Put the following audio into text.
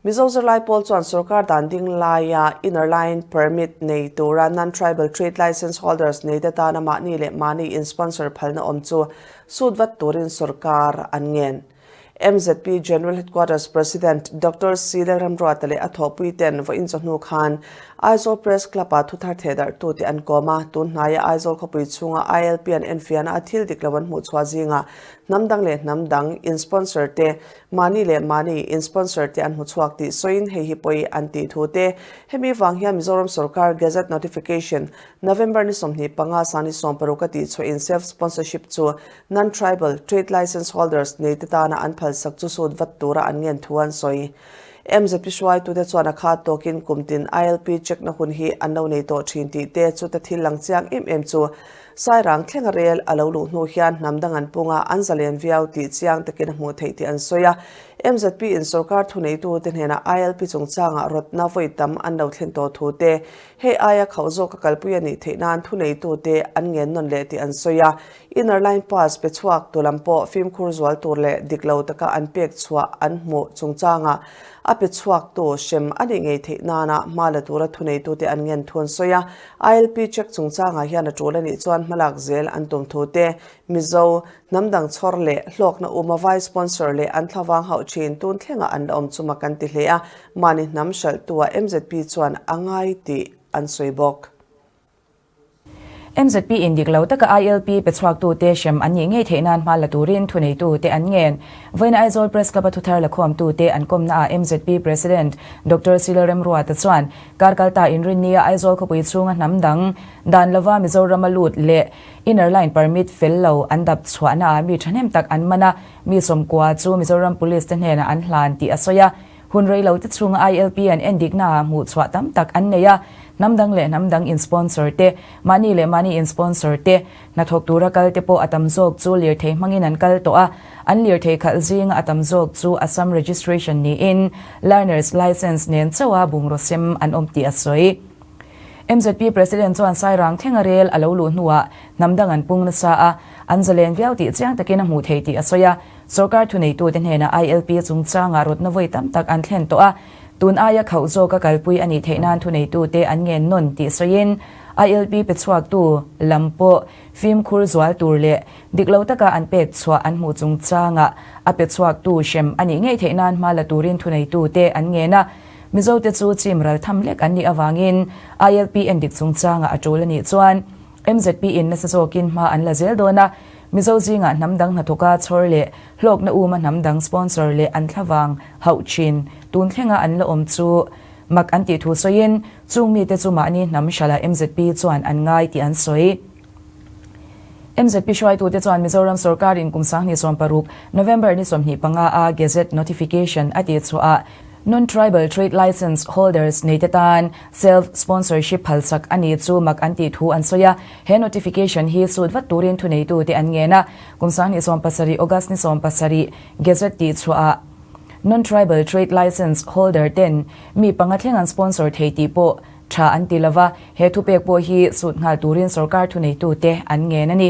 Mizo zirlai pawl chuan sorkar dan ding laia Inner Line Permit nei tura Non-Tribal Trade Licence Holders nei te tana mahni leh mahni in sponsor phalna awm chu sut vat turin sorkar an ngen. MZP General Headquarters President Doctor Sri Lengram Ruata leh a thawhpui ten vawiin chawhnu khan Aizawl Press Club ah thuthar thehdarhtu te an kawm a, tun hnaia Aizawl khawpui chhunga ILP an enfiahna a thil dik lo an hmuhchhuah zingah hnam dang leh hnam dang in sponsor te mahni leh mahni in sponsor te an hmu chhuak tih sawiin hei hi pawh i an tih thu te. Hemi vang hian Mizoram sawrkar Gazette Notification, November ni sawmhnih panga sang ni sawm paruk a tih chhuahin self sponsorship chu non tribal, trade licence holders, nei te tana an phalsak chu sut vat tura an ngen thu an sawi. MZP hruaitute chuan a khat tawkin kum tin ILP check na hun hi an lo nei tawh thin tih te chuta thil lang chiang em em chu Sairang thlenga rel a lo luh hnu hian hnam dang an pung a, an zalen viau tih chiang takin a hmuh theih tih an sawi a. Mzp in sorkar thuneitute hnena ILP chungchangah rawtna vawi tam an lo thlen tawh thu te, hei aia khauh zawk ka kalpui a nih theih nan thuneitute an ngen nawn leh tih an sawi a. Inner line pass pe chhuak tur lam pawh fimkhur zual tur leh dik lo taka an pek chhuah an hmuh chungchangah a pe chhuaktu hrem a nih ngei theih nana hma la tura thuneitute an ngen thu an sawi a. ILP check chungchangah hian a tul a nih chuan hmalak zel an tum thu te, Mizo, hnamdang chhawr leh hlawkna um a vai sponsor leh an thlavang hauh thin tun thlengah an la awm chu mak an ti hle a, mahni hnam hralhtuah MZP chuan a ngai tih an sawi bawk. MZP in dik lo taka ILP pe chhuaktute hrem an nih ngei theih nan hma la turin thuneitu te an ngen. Vawiin Aizawl Press Club-a thuthar lakhawmtute an kawmnaah MZP President Doctor Sila Remruata chuan Karkal ta Inrinnia Aizawl khawpui chhunga hnam dang dan lova Mizorama lut leh Inner Line Permit fel lo an dap chhuahna ah mi thahnem tak an man a, mi sawmkua chu Mizoram Police te hnenah an hlan tih a sawi a. Hun reilo te chhunga ILP an en dikna ah hmuh chhuah tam tak an nei a, hnam dang leh hnam dang in sponsor te, mahni leh mahni in sponsor te, Hnathawk tura kal te pawh a tam zawk chu lirthei hmangin an kal tawh a, an lirthei khalh zinga a tam zawk chu Assam Registration niin Learners Licence nen chauha bungrusem an awm tih a sawi. Mzp President chuan Sairang thlenga rel a lo luh hnuah hnamdang an pung nasa a, an zalen viau tih chiang takin a hmuh theih tih a sawi a. Sorkar thuneitute hnena ILP chungchangah rawtna vawi tam tak an thlen tawh a, Tun aia khauh zawka kalpui a nih theih nan thuneitute an ngen nawn tih sawiin ILP pe chhuaktu lam pawh fimkhur zual tur leh dik lo taka an pek chhuah an hmuh chung changa a pe chhuaktu hrem a nih ngei theih nan hma la turin thuneitute an ngen a. Mizote chu chim ral tham lek an nih avangin ILP en dik chung changa a tul a nih chuan mzp in nasa zawkin hma an la zel dawn a. Mizo zingah hnam dang hnathawka chhawr leh Hlawkna um a hnam dang sponsor leh an thla vang hauh thin tun thlenga an la awm chu mak an tih thu sawiin chung mite chu mahni hnam hrala mzp chuan an ngai tih an sawi. Mzp hruaitute chuan Mizoram sawrkar in kum sanghnih sawm paruk, November ni sawmhnih panga a Gazette notification a tih chhuahah Non-Tribal Trade Licence holders neite tan self sponsorship phalsak a nih chu mak an tih thu an sawi a. He notification hi sut vat turin thuneitute an ngen a. Kum sang ni sawm pasarih, August ni sawm pasarih, Gazette tih chhuahah Non-Tribal Trade Licence Holder ten mi panga thleng an sponsor thei tih pawh tha an ti lo va, he thupek pawh hi sut nghal turin sorkar thuneitute an ngen a ni.